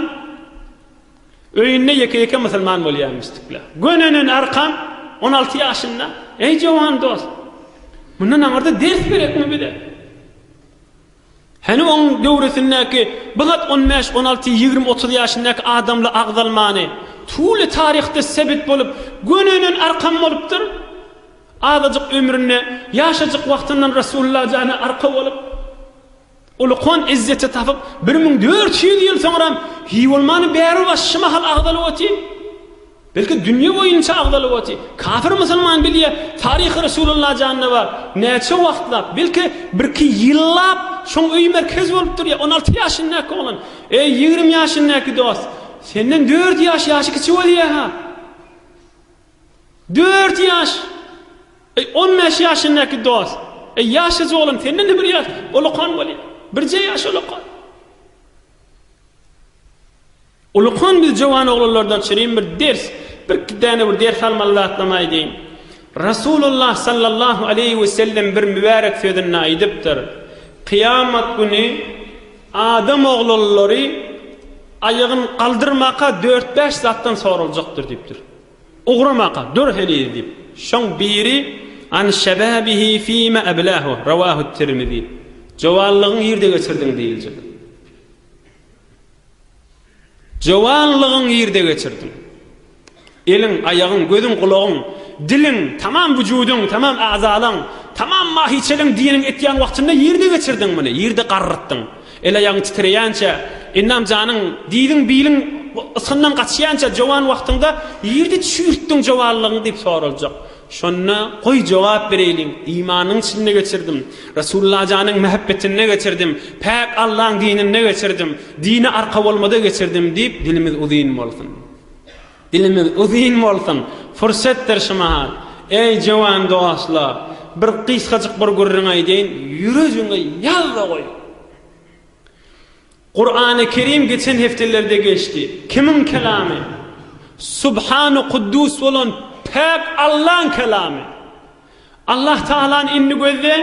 öýünde ýeke-ýeke musulman bolýarmyşdykla. Gönenen Arkam on alty ýaşynda, Eý jowan dost, mundan aňyrda ders berekmi bize? Hany oň döwresindäki bu zat on bäş, on alty, ýigrimi, otuz ýaşyndaky adamly agzalmany, tuly taryhda sebit bolup, gönenen Arkam bolupdyr. Azajyk ömründe, ýaşajyk wagtyndan Resulullah jana arka bolup, ulykan izzeti tapyp, bir müň dört ýüz ýyl soňram hiý bolmany bäri baş şy mahal agzalyp otyr. Belki dünýe boýunça agzalyp otyr. Kapyr musulman bilýä, taryhy Resulullah janda bar. Näçe wagtlap, belki birki ýyllap şoň öýi merkez bolup durýa. On alty ýaşyndäki oglan, Eý, ýigrimi ýaşyndäki dost, senden dört ýaş ýaşy kiçi bolýa-ha. Dört ýaş! Eý, on bäş ýaşyndaky dos! Eý, ýaşajy oglan, senden-de bir ýaş ulukan bolýar. Birje ýaş ulukan. Ulukan, biz jowan oglanlardan şirin bir ders, birki däne bir ders almaly zatlam aýdaýyn. Rasulullah sallallahu aleýhi we sellem bir mübärek sözünde aýdypdyr, Kyýamat güni adam oglanlary aýagyn galdyrmaka dört-bäş zatdan soraljakdyr diýipdir. Ugramaka, dur heniz, diýip, şoň biri, An şebabihi fima eblahu, rawahu Tirmizi, Jowanlygyň nirde geçirdiň diýiljek. Jowanlygyň nirde geçirdiň? Eliň, aýagyň, gözüň, gulagyň, diliň, tamam wujudyň, tamam agzalaň, tamam mahiçeliň diýeniň etýän wagtynda nirde geçirdiň muny, nirde garrytdyň? El-aýagyň titreýänçä, endam-janyň, diziň-biliň ysgyndan gaçýança jowan wagtyňda ýerde çüýrtdiň jowanlygyňy diýip soraljak. Şonda, Goý, jogap bereýlin, imanyň içinde geçirdim. Resullajanyň mähebbetinde geçirdim. Päk Allaň dininde geçirdim. Dine arka bolmada geçirdim diýip dilimiz uzyn bolsun. Dilimiz uzyn bolsun! Pursetdir şu mahal. Eý, jöwan dostlar, bir gysgajyk bir gürrüň aýdaýyn, ýüregiňe ýazda goý. Kurany Kerim geçen hepdelerde geçdi. Kimiň kelamy? Subhanu Kuddus bolan päk Allaň kelamy. Allah Tagalany indi gözleň.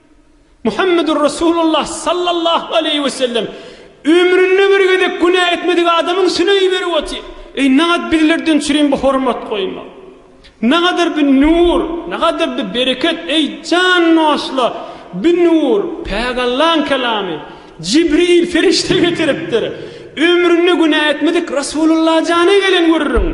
Muhammedur Resulullah sallallahu aleýhi we sellem, Ömründe bir gezek günä etmedik adamyň süneýi berip otyr. Eý, nagat bizlerden çürin bu hormat goýma. Nagadyr bu nur, nagadyr bu bereket, eý, jan nosla, bu nur, päk Allaň kelamy, Jibril perişde getiripdir. Ömründe günä etmedik Resulullah jana gelen görüriň.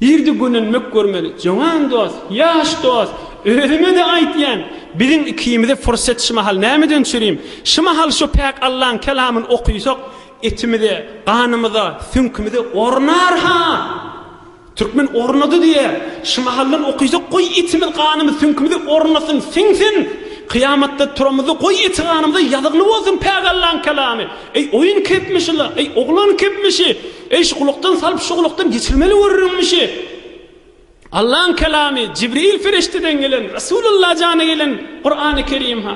Irdi gönenmek görmeli. Jowan dost, ýaş dost, özüme-de aýtýan, biziň ikimize pursat şu mahal nämeden çürim? Şu mahal şu päk Allaň kelamyny okysak, etimize, ganymyza, süňkümize ornar-ha! Türkmen ornady diýýär. Şu mahaldan okysak, goý, etimiz, ganymyz, süňkümize ornasyn, siňsin! Kyýamatda turamyzda, goý, eti-ganymyza ýazykly bolsun päk Allaň kelamy! Eý, oýun kepmişi-la! Eý, oglan kepmişi! Eý-şu gulakdan salyp şu gulakdan geçirmeli görüriňmişi? Allaň kelamy, Jibril perişdeden gelen, Resul Alla jana gelen Kurany Kerim-ha.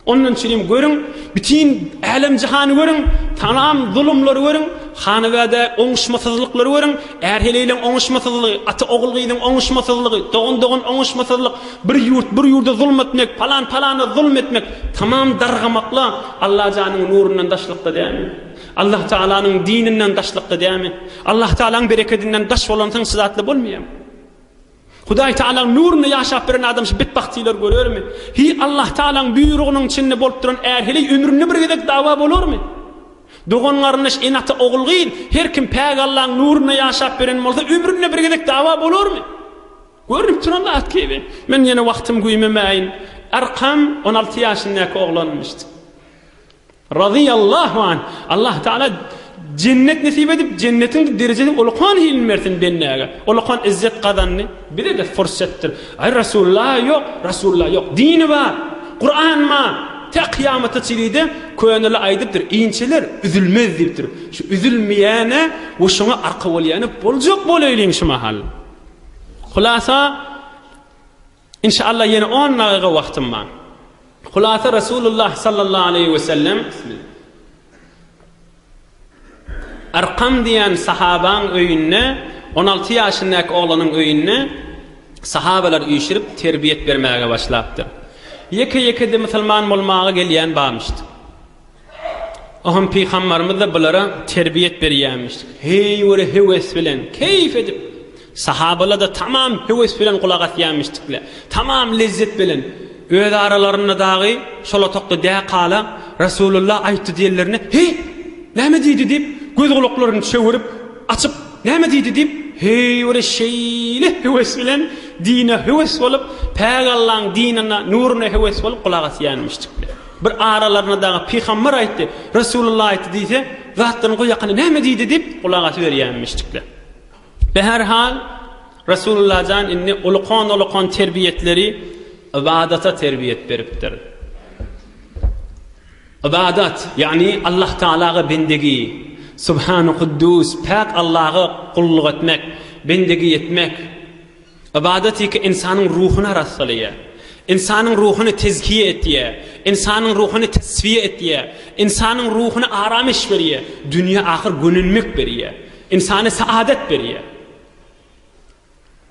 Ondan çürim görüň, bütin älem-jahany görüň, tamam zulumlary görüň, hanabäde oňuşmasyzlyklary görüň, är-heleýleň oňuşmasyzlygy, ata-ogul-gyzyň oňuşmasyzlygy, dogan-dogan oňuşmasazlyk, bir ýurt bir ýurda zulum etmek, palan palana zulum etmek, tamam dargamakla Alla janyň nurundan daşlykda dälmi? Allah Taalanyň dininden daşlykda dämi? Allah Taalaň berekedinden daş bolansyň şyzatly bolmaýamy? Hudaý Taalaň nurunda ýaşap beren adam şu betbagtylar görermi? Hi Allah Taalaň buýrugynyň içinde bolup duran är heleý ömründe bir gezek dawa bolarmy? Dogan garyndaş en ata ogul gyz her kim päk Allaň nurunda ýaşap beren bolsa ömründe bir gezek dawa bolarmy? Görünip duran zat gibi. Men ýene wagtym güýmemäýin. Arkam 16 ýaşyndaky oglanmyşdy. Razyýallahu anh, Allah Taala jennet nesip edip, jennetiň derejesini olakan hilini bersin bendäge. Olakan izzet gazandy. Bize-de fursatdyr. Aý Rasulullah ýok, Rasulullah ýok. Dini bar, Kuran bar. Tä kyýamata çyilide köneler aýdypdyr, inçeler üzülmez diýipdir. Şu üzülmeýäne we şoňa arka bolýana boljak bolaýlyň şu mahal. Hulasa, Inşallah ýene on dagyga wagtym bar. Hulasa Resulullah sallallahu aleýhi we sellem Arqam diýen sahabaň öýünde on alty ýaşyndaky oglanyň öýünde sahabalar üýşürip terbiýet bermäge başlapdyr. Ýeke ýekede musulman bolmaga gelýän barmyşdy. Ahun pygambarymyz-da bulara terbiýet berýärmiş. Heý göre höwes bilen, keýf edip. Sahabalar-da tamam höwes bilen gulak asýarmyşdyklar. Tamam lezzet bilen. Öz aralarynda dagy şol otagda däkala Resulullah aýtdy diýenlerine, Heý, näme diýdi diýip, göz-gulaklaryny çöwürip, açyp, Näme diýdi diýip, heý göre şeýle höwes bilen, dine höwes bolup, päk Allaň dinine, nuruna höwes bolup gulak asýarmyşdyklar. Bir aralaryna dagy Pygamber aýtdy, Resulullah aýtdy diýse, zatlaryň goý ýakany näme diýdi diýip, gulak asyberýärmişdikler. Be her hal, Resulullah jan indi ulukan-ulukan terbiýetleri ybadata terbiýet beripdir. Ybadat, ýagny Allah Tagalaga bendegi, Subhanu Kuddus, päk Allaha gulluk etmek, bendegi etmek. Ybadat ýeke ynsanyň ruhuny arassalaýar, ynsanyň ruhuny tezkiýe etýär, ynsanyň ruhuny teswiýe etýär, ynsanyň ruhuny aramyş berýär, dünýä ahyr gönenmek berýär, ynsana saadat berýär.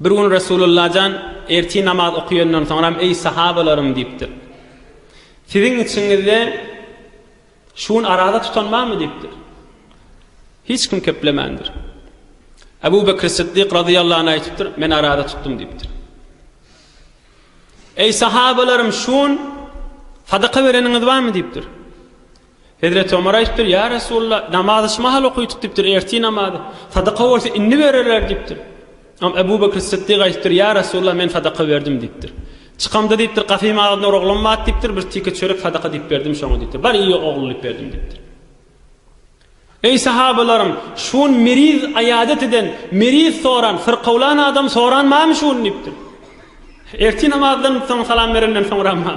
Bir gün Resulullah jan ertir namaz okaýandan soňram, Eý sahabalarym diýipdir. Siziň içiňizde. Şu gün araza tutan barmy? diýipdir. Hiç kim keplemändir. Ebu Bekr Siddik razyýallahu anh aýdypdyr, Men araza tutdum diýipdir. Eý sahabalarym, şu gün sadaka bereniňiz barmy diýipdir. Hezreti Ömer aýdypdyr, ýa Resulullah, namazy şu mahal okydyk diýipdir, ertir namazy. Sadaka bolsa indi bererler diýipdir. Am Ebu Bekr Siddik aýdypdyr, Ýa Resulallah, men sadaka berdim diýipdir. Çykamda diýipdir, gafyň agzynda bir oglan bat diýipdir, bir tike çörek sadaka diýip berdim şoňa diýipdir. Bar iýe ogul diýip berdim diýipdir. Eý sahabalarym, şu gün meriz aýadet eden, meriz soran, syrkawlan adam soran barmy şu gün diýipdir. Ertir namazdan soň salam berenden soňrama?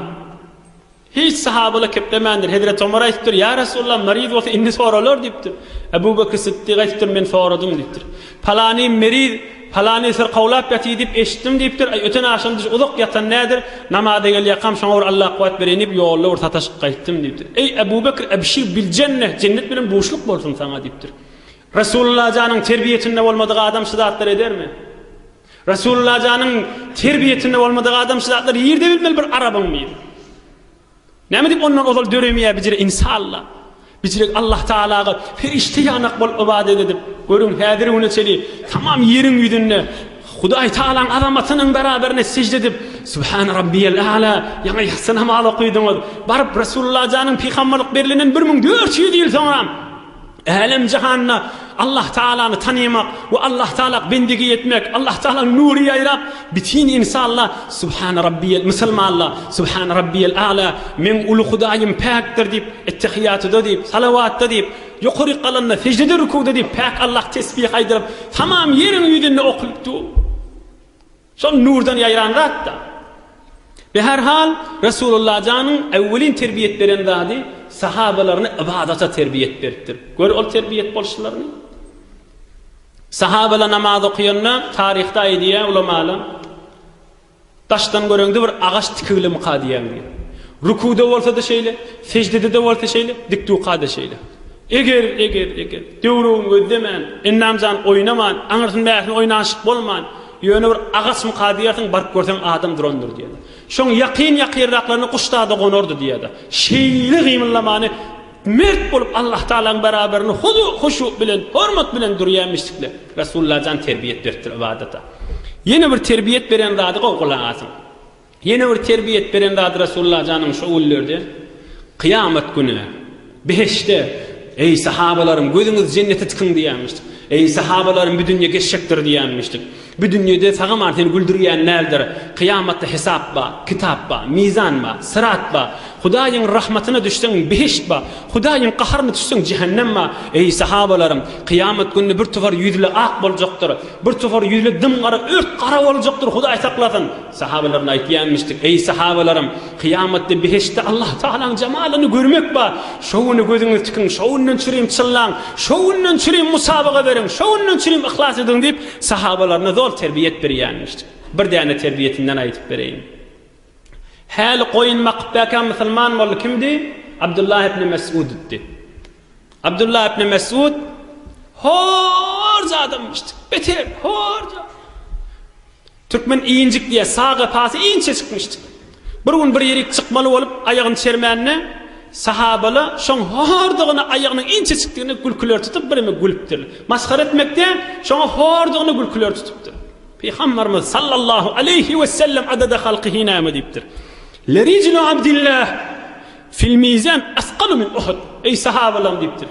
Hiç sahabalar keplemändir. Hezreti Omar aýdypdyr, Ýa Resulallah, meriz bolsa indi soralar diýipdir. Ebu Bekr Sytdyk aýdypdyr, Men soradym diýipdir. Palany meriz, palany syrkawlap ýatyr diýip eşitdim diýipdir. Aý, öten agşam düýş uzak ýatan nädir, namaza gelýäkam şoňa bir Alla kuwwat bereýin diýip ýolda bir sataşyp gaýtdym diýipdir. Eý, Ebu Bekr, ebşir bil jenneh, jennet bilen duşluk bolsun saňa diýipdir. Resulallajanyň terbiýesinde bolmadyk adam şu zatlary edermi? Resululajanyň terbiýesinde bolmadyk adam şu zatlar ýerde bilmeli bir arabyň bir Näme dip ondan ozal döremeýär bijire insalla. Bijirek Allah Taalaga perişte ýanak bol ybadet edip, görüň häzir güne çeli tamam ýeriň ýüzünde Hudaý Taalaň azamatynyň beraberine sejde edip, Subhan Rabbiyal A'la, ýaňy ýatsy namaz okydyňyz. Baryp Resululajanyň pygamberlik berilenden 1400 ýyl soňam Älem jahanda Allah Taalany tanymak we Allah Taala bendigi etmek, Allah Taalanyň nury ýaýrap, bitin insanda Subhana Rabbiyel musulmanda Subhana Rabbiyel A'la, Meň uly Hudaýym päkdir diýip, ettehiýatuda diýip, salawatda diýip, ýokaryk galanda, sejde-de rukuwda diýip, päk Allah tesbih aýdylyp, tamam ýeriň ýüzünde okylypdy. Şol nurdan ýaýran zat-da. Be her hal, Resulalla janyň äwwelin terbiýet beren zady sahabalaryny ybadata terbiýet beripdir. Gör ol terbiýet bolşlaryny. Sahabalar namaz okaýanda taryhda aýdýar ulamalar, Daşdan göreňde bir agaç tikigilimika diýýän diýip. Rukuda bolsa-da şeýle, seždede-de bolsa şeýle, dikduka-da şeýle. Eger, eger, eger, döwrügiň gözlemän, Ennamjan oýnaman, aňyrsyny-bärsini oýnanyşyk bolman, Ýöne bir agaçmyka diýersiň, baryp görseň adam durandyr diýýär. Şoň ýakyn-ýakyrraklaryna guş-da-da gonardy diýýär-de. Şeýle gymyldamany mert bolup Allah Tagalaň beraberinde huzu, huşu bilen, hormat bilen durýamyşdikle. Resullajan terbiýet beripdir ybadata. Ýene bir terbiýet beren zady gowgalaňasyň. Ýene bir terbiýet beren zady Resulullah janyň şo günlerde, kyýamat güni, behişde, Eý, sahabalaryň, gözüňiz jennete tikiň diýenmişdi. Eý, sahabalaryň, bu dünýe geçjekdir diýenmişdi. Bu dünýede sagaman seni güldürýän däldir. Kyýamatda hesap bar, kitap bar, mizan bar, syrat bar. Hudaýyň rahmatyna düşseň, behişt bar. Hudaýyň gaharyna düşseň, jähennem bar. Eý, sahabalaryň, kyýamat gününi bir tüwür ýüzli ak boljakdyr. Bir tüwür ýüzli dym-gara, ört gara boljakdyr, Hudaý saklasyn. Sahabalaryna aýtýarmyşdyk, Eý, sahabalarym! Kyýamatda behiştde Allah Tagalaň jemalyny görmek bar. Şo güne gözüňizi tikiň, şo günden çürim çyllaň, şo günden çürim musabaga beriň, şo günden çürim yhlas ediň diýip, sahabalaryna zor terbiýet berýärmişdi. Bir däne terbiýetinden aýdyp bereýin. Häli goýun bakypbäkä musulman boldy. Kimdi? Abdullah ibn Mes'ud idi. Abdullah ibn Mes'ud horja adamyşdy. Beter, horja. Türkmen injik diýýär, sag gepasy inçe çykmyşdyk. Bir gün bir ýerik çykmaly bolup, aýagyny çermände, sahabala şoň hordugyna aýagynyň inçe çykdygyna gülküler tutup, bireme gülüpdir. Masgara etmekde, şoňa hordugyna gülküler tutupdyr. Pygambarymyz, sallallahu aleýhi wesellem, adada halky hinäme diýipdir, Lerijlu abdillah Fil mizan asqalu min Uhud, Eý, sahabalaryň! diýipdir.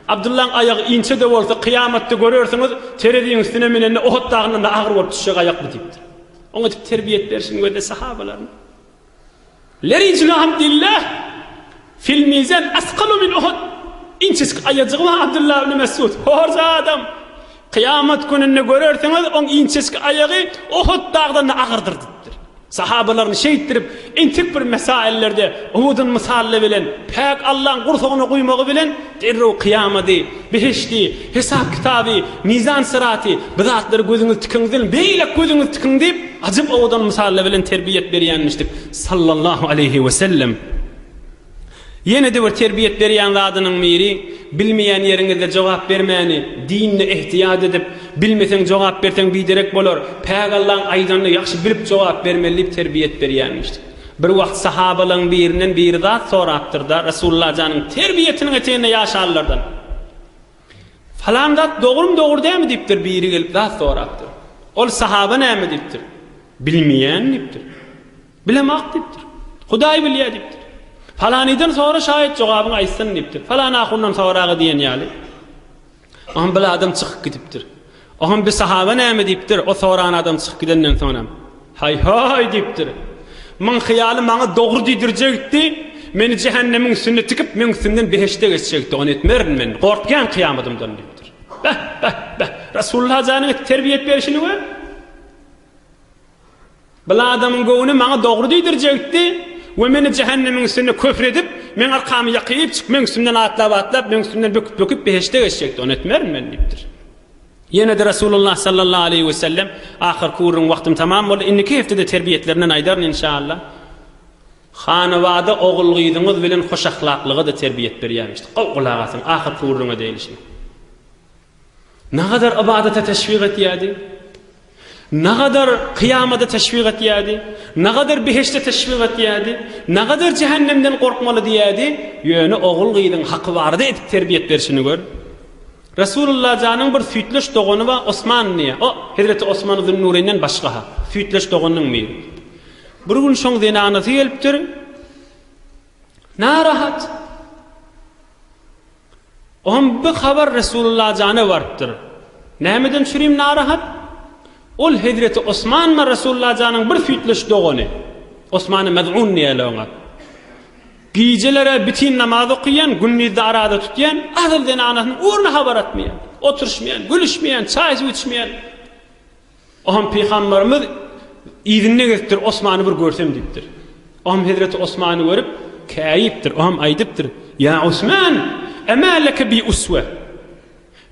Abdyllaň aýagy inçe-de bolsa, kyýamatda görersiňiz, tereziň üstüne münende Uhud dagyndan-da agyr bolup düşjek aýak bu diýipdir. Oňa edip terbiýet berşini gözle sahabalaryň. Lerijlu Abdillah, Fil mizan asqalu min Uhud, Inçejik aýajygy bar Abdylla ibn Mesud, horjy adam! Kyýamat gününde görersiňiz, oň inçejik aýagy Uhud dagdan-da agyrdyr diýipdir. Sahabalaryny şeýtdirip, entek bir mesaillerde Uhudyň mysaly bilen, päk Allaň gursagyna guýmagy bilen derrew kyýamaty, behişdi, hesap-kitaby, mizan-syraty, bu zatlary gözüňiz tikiňden, beýläk gözüňizi tikiň diýip, ajap owadan mysaly bilen terbiýe berýänmişdik, sallallahu aleýhi wesellem. Ýene-de bir terbiýet berýän zadynyň biri, bilmeýän ýeriňizde jogap bermäni, dinde ehtiýat edip, bilmeseň jogap berseň biderek bolar, Pägallaň aýdanyny ýagşy bilip jogap bermeli diýip terbiýet berýänmiş. Bir wagt sahabalaň birinden biri zat sorapdyrda, Resulullah janyň terbiýetiniň eteginde ýaşanlardan, Falan zat dogrymy dogry dämi diýipdir, biri gelip zat sorapdyr. Ol sahaba näme diýipdir? Bilmeýän diýipdir. Bilemok diýipdir. Hudaý bilýär diýipdir. Palanydan sora şaýat jogabyňy aýtsyn diýipdir. Palan ahundan soraga diýen ýaly. Oňam bil adam çykyp gidipdir. Oňam bi sahaba näme diýipdir, o soran adam çykyp gidenden soňam. Haý-haý diýipdir. Myň hyýaly maňa dogry diýdirjekdi, meni jähennemiň üstünde tikip, meň üstümden behişde geçjekdi. Ony etmerin men. Gorkýan kyýamadymdan diýipdir. Beh-beh-beh! Resulullah janyň terbiýe et berişini gör! Bil adamyň göwni maňa dogry diýdirjekdi we meni jähennemiň üstünde köfr edip, meň arkamy ýakypjyk, meň üstümden atlap-atlap, meň üstümden böküp-böküp behişde geçjekdi, ony etmerin men diýipdir. Ýene-de Resulullah sallallahu aleýhi we sellem, Ahyrky gürrüň wagtym tamam boldy, indiki hepdede terbiýetlerinden aýdaryn inşaAllah. Hanabada ogul-gyzyňyz bilen hoşahlaklyga-da terbiýet berýärmişdi. Gowy gulak asyň, ahyrky gürrüňe degilişine. Nagadar ybadata teşwik etýärdi? Nagadar kyýamada teşwik etýärdi? Nagadar behişde teşwik etýärdi? Nagadar jähennemden gorkmaly diýýärdi? Ýöne ogul-gyzyň haky barada edip terbiýet berşini gör. Resulullah janyň bir süýtleş dogany bar Osman diýýär. O, hezreti Osman Zünnureynden başga-ha. Süýtleş doganynyň biri. Bir gün şoň zenanasy gelipdir. Narahat. Oňam bir habar Resulalla jana barypdyr. Nämeden çürim narahat? Ol hezreti Osmanma Resulalla janyň bir süýtleş dogany. Osmany Mez'un diýäýle oňa. Gijelere bitin namaz okyýan, gündizde araza tutýan, asyl zenanasynyň ugruna habar atmaýan, oturşmaýan, gülüşmeýan, çaý-suw içmeýän. Oňam pygamberimiz yzyny gezipdir, Osmany bir görsem diýipdir. Oňam hezreti Osmany görüp, käýipdir. Oňam aýdypdyr, Ýa Osman, emä leke bi uswe.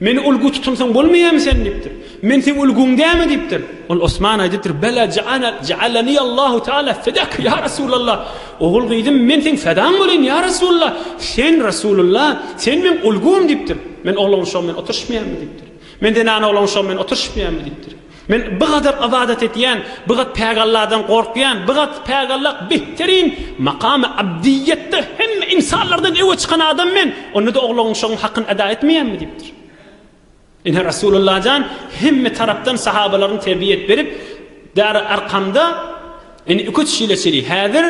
Meni ulgy tutunsaň bolmaýamy sen diýipdir. Men seň ulguň dämi diýipdir. Ol Osman aýdypdyr, Bela jaana jaalani Allahu taala fedak ýa Resulallah. Ogul gyzym, men seň fedaň bolaýyn ýa Resulallah. Sen Resulallah, sen meň ulgym diýipdir. Men ogluň şo men oturyşmaýamy diýipdir. Men zenana olam şo men oturyşypýamy diýipdir. Men bigadar ybadat etýän, bigat pägalladan gorkýan, bigat pägallak behterin makamy abdiýetde hemme insanlardan öwe çykan adam men, onda-da ogluň şoň hakyny eda etmeýämi diýipdir. Ine Rasulullah jan hemme tarapdan sahabalaryny terbiýe et berip Dary Arkamda ine iki-üç ýyla çeli häzir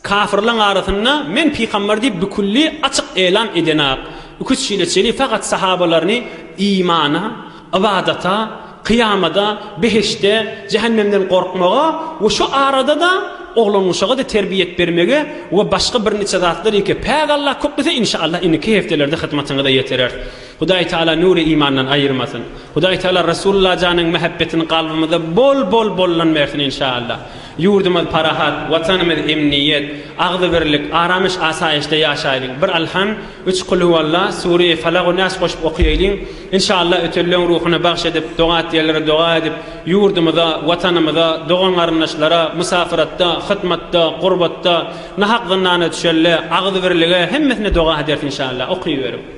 Kafyrlaň arasynda Men pygamber diýip bikülli açyk elan edenak iki çile çeli fakat sahabalaryny imana, ybadata, kyýamada, behişde, jähennemden gorkmaga we şu arada-da oglangyşaga-da terbiýet bermege we başga birniçe zatlar ýeke päk Allah köklese inşallah indiki heftelerde hyzmatyňyza ýeterer. Hudaý Taala nury imandan aýyrmasyn. Hudaý Taala Resulullah janyň mähebbetini kalbymyza bol bol bollan bersin inşallah. Ýurdumyz parahat, Watanymyz emniýet, agzybirlik, aramyş-asaýyşda ýaşaýlyň! Bir Alham, üç Kulhuwalla, Sureýi Falagu Nas goşup okaýaýlyň! Inşallah ötürileň ruhuna bagş edip, doga diýerlere doga edip, ýurdumyza, Watanymyza, dogan-garyndaşlara, musafyratda, hytmatda, gurbatda, nahak zyndana düşende, agzybirlige, hemmesine doga ederis inşallah! Okyberin.